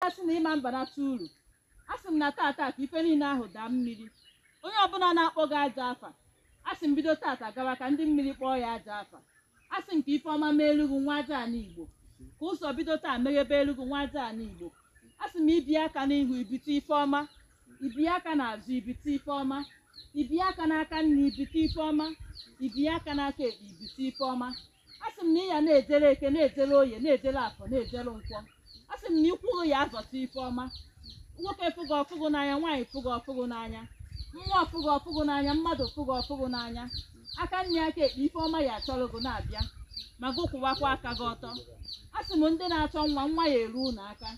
na-asị na ị ma banata uru asị m na tata ka ife niile ahụ daa mmiri onye ọbụla na-akpọ gị ajọ afa asị m bido tata gawa ka ndị mmiri kpọọ ya ajọ afa asị m ka ife ọma meelu gị nwa aja ana igbo ka ụzọ bido taa meghebelu gị nwa aja ana igbo asị m i bie aka n'ihu i bite ife ọma i bie aka n'azụ i bite ife ọma i bie aka n'aka nni i bite ife ọma i bie aka n'aka ekpe i bite ife ọma asị m na ị ya na-ejere eke na-ejere oye na-ejere afọ na-ejere nkwọ asị m na ụkwụ gị ya azọta ife ọma nwoke fụ gị ọ fụ gị n'anya nwaanyị fụ gị ọ fụ gị n'anya mmụọ fụ gị ọ fụ gị n'anya mmadụ fụ gị ọ fụ gị n'anya aka nni aka ekpe ife ọma ya achọrọ gị na-abịa ma gị kwụwakwa aka gị ọtọ a sị m ndị na-achọ nwa nwa ya eru unu aka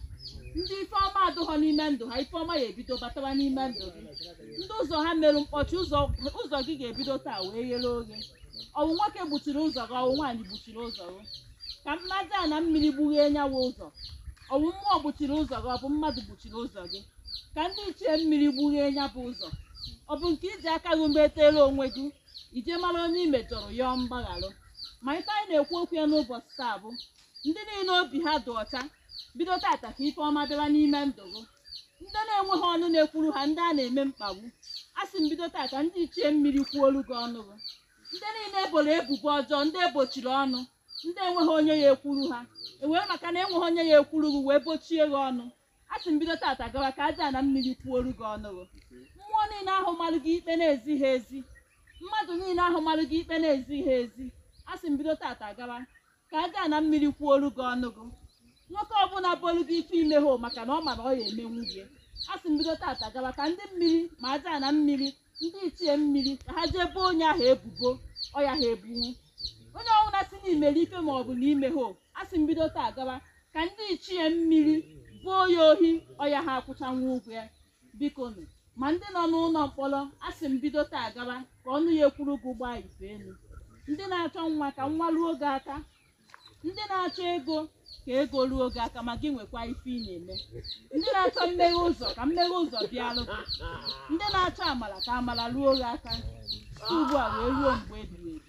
ndị ife ọma adụghọ n'ime ndụ ha ife ọma ya ebido batawa n'ime ndụ gị ndị ụzọ ha merụ mkpọchi ụzọ gị ga-ebido taa wee ghere oghe ọ wụ nwoke gbuchiri ụzọ gị ọ wụ nwaanyị gbuchiri ụzọ gị ka mmadụ a na mmiri gbughee nya wụ ụzọ ọ wụ mmụọ gbuchiri ụzọ gị ọ bụ mmadụ gbuchiri ụzọ gị ka ndị ichie mmiri gbughee nya bụ ụzọ ọ bụ nke i ji aka gị metere onwe gị i jee mara onye i mejọrọ yọọ mgbagharụ ma ife anyị na-ekwu okwu ya n'ụbọchị taa bụ ndị niile obi ha dị ọcha bido tata ka ife ọma bịara n'ime ndụ gị ndị na-enweghị ọnụ na-ekwuru ha ndị a na-eme mkpagbu a sị m bido tata ndị ichie mmiri kwuolu gị ọnụ gị ndị niile e boro ebubo ọjọọ ndị e bochiri ọnụ ndị enweghị onye ya ekwuru ha e wee maka na enweghị onye ya ekwuru gị wee bochie gị ọnụ a sị m bido tata gawa ka aja na mmiri kwuoru gị ọnụ gị mmụọ niile ahụ marụ gị ikpe na-ezighị ezi mmadụ niile ahụ marụ gị ikpe na-ezighị ezi a sị m bido tata gawa ka aja na mmiri kwuoru gị ọnụ gị nwoke ọbụla bolu gị ife i mehụ maka na ọ ma na ọ ya emenwu gị a sị m bido tata gawa ka ndị mmiri ma aja na mmiri ndị ichie mmiri ka ha jee boo onye ahụ ebubo ọ yaha ebunwu onye ọbụla sị na i mere ife ma ọ bụ na i mehụ a sị m bido taa gawa ka ndị ichie mmiri boo ya ohi ọ yaha akwụchanwu ụgwọ ya biko nụ ma ndị nọ n'ụlọ mkpọrọ a sị m bido taa gawa ka ọnụ ya ekwuru gị gbaa ife elu ndị na-achọ nwa ka nwa ruo gị aka ndị na-achọ ego ka ego ruo gị aka ma gị nwekwa ife ị na-eme ndị na-achọ mmeghe ụzọ ka mmeghe ụzọ bịarụ gị ndị na-achọ amara ka amara ruo gị aka site ugbu a wee ruo mgbe ebighị ebi